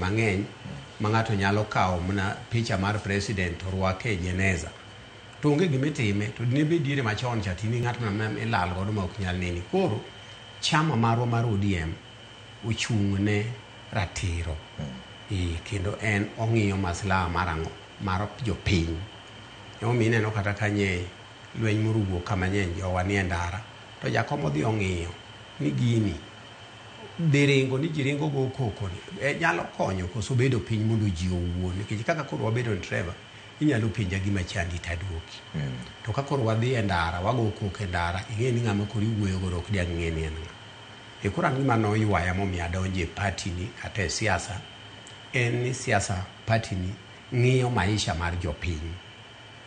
mang'eny ma ng'ato nyalo kawo mana picha mar president to rwake e jeneza to onge gima itime to dine bed diere machon cha tini ng'at ma ma ilal godo ma ok nyal neni koro chama marwa mar ODM ochung' ne ratiro Ee, kendo en ong'iyo maslaha mar ang'o mar jopiny emomiyo ineno kata kanye lweny morugo kama nye jowa nie ndara to jakom odhi ong'iyo ni gini be ringo ni ji ringo go koko ni e, nyalo konyo koso bedo piny mondo ji owuo nikech kaka koro wabedo ni treva inyalo penja gima chandi taduoki mm. to ka koro wadhi e ndara wago koko e ndara ing'e ni ng'ama koro iwuoyo godo ok diang' ng'e ni en ng'a e koro an gima noywaya momiyo adonjo e pati ni kata e siasa en ni siasa pati ni ng'iyo maisha mar jopiny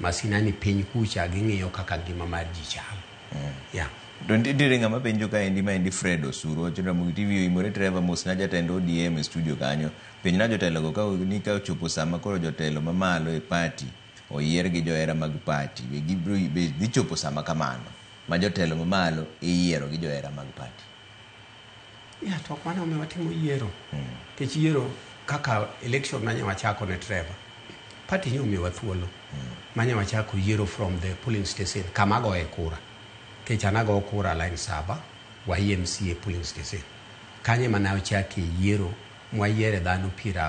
Masina ni piny kucha ging'iyo kaka ngima mar ji chal. Mm. Yeah. To nitiere ng'ama penjo ka endi ma endi Fred Osuro wacho Ramogi TV oimore treva mos na jatend ODM e studio kanyo penj na jotelo go ka ni ka ochopo sama koro jotelo mamalo e party oyier gi johera mag party be gibro be dhi chopo sama kamano ma jotelo mamalo iyiero gi johera mag party Ya, to ok mano omiyo watimo yiero. Nikech yiero kaka election nanya wachako ne Trevor. Party nyo omiyowa thuolo. Manya wachako yiero from the polling station kama agoye kura. Nikech an ago kura line saba, Wahie MCA polling station. Kanyo ema ne ochake yiero mwayiere dhano piero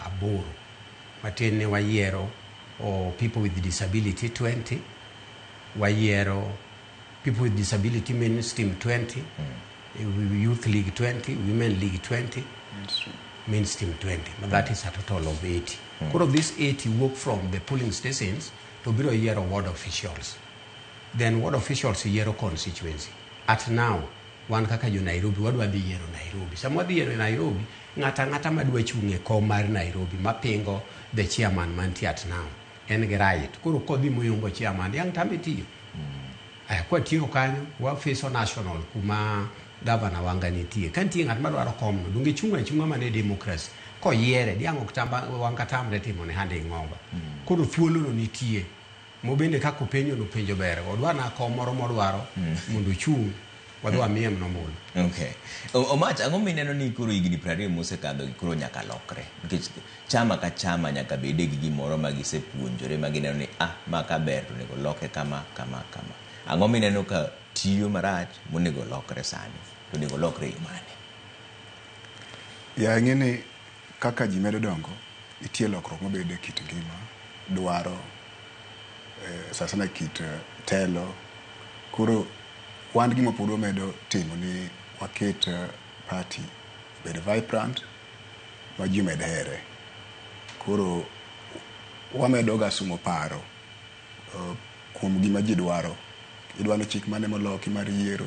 aboro. Matin ni wayiero oh, people with disability 20, wayiero people with disability mainstream 20 mm. youth league 20 women league 20 mainstream, mainstream 20 but mm. that is a total of 80 mm. koro this 80 work from the polling stations to biro yiero ward officials then ward officials yiero constituency at now wan kaka jo nairobi wadwa dhi yiero nairobi sama wadhi yiero nairobi ng'ata ng'ata madwa chung' e kom mar nairobi mapingo the chairman mantie at now en gi right koro kodhi moyombo chairman yang tame tiyo eh, kwa tiyo kanyo wafiso national kuma gavana wanga nitie ka nitie ng'at madwaro komno donge chunga chunga mane democracy koyiere diang' ok tamba wanga tamre timo ne hande ng'oba koro thuolono nitie mobende kaka openjo nopenjo ber odwa na kom moro modwaro mondo ochung' Wadhi wamiye mno mul. Okay. O- Omach, ang'o mineno ni koro higni prariyo mosekadho gi koro nyaka lokre? Nikech chama ka chama nyaka bede gi gimoro ma gisepuonjore ma gineno ni ah, ma ka ber to onego loke kama, kama, kama. Ang'o mineno ka tiyo marach monego lokre sani? To onego lokre e yo mane? Ya ng'e ni Kaka ji medo dongo, nitie lokruok mabedo e kit ngima, dwaro, sana sana kit telo. Koro wan gima pod wamedo timo ni waket party obed vibrant ma ji omed here. Koro wamedoga somo paro kuom gima ji dwaro. Idwani chik mane moloki mar yiero.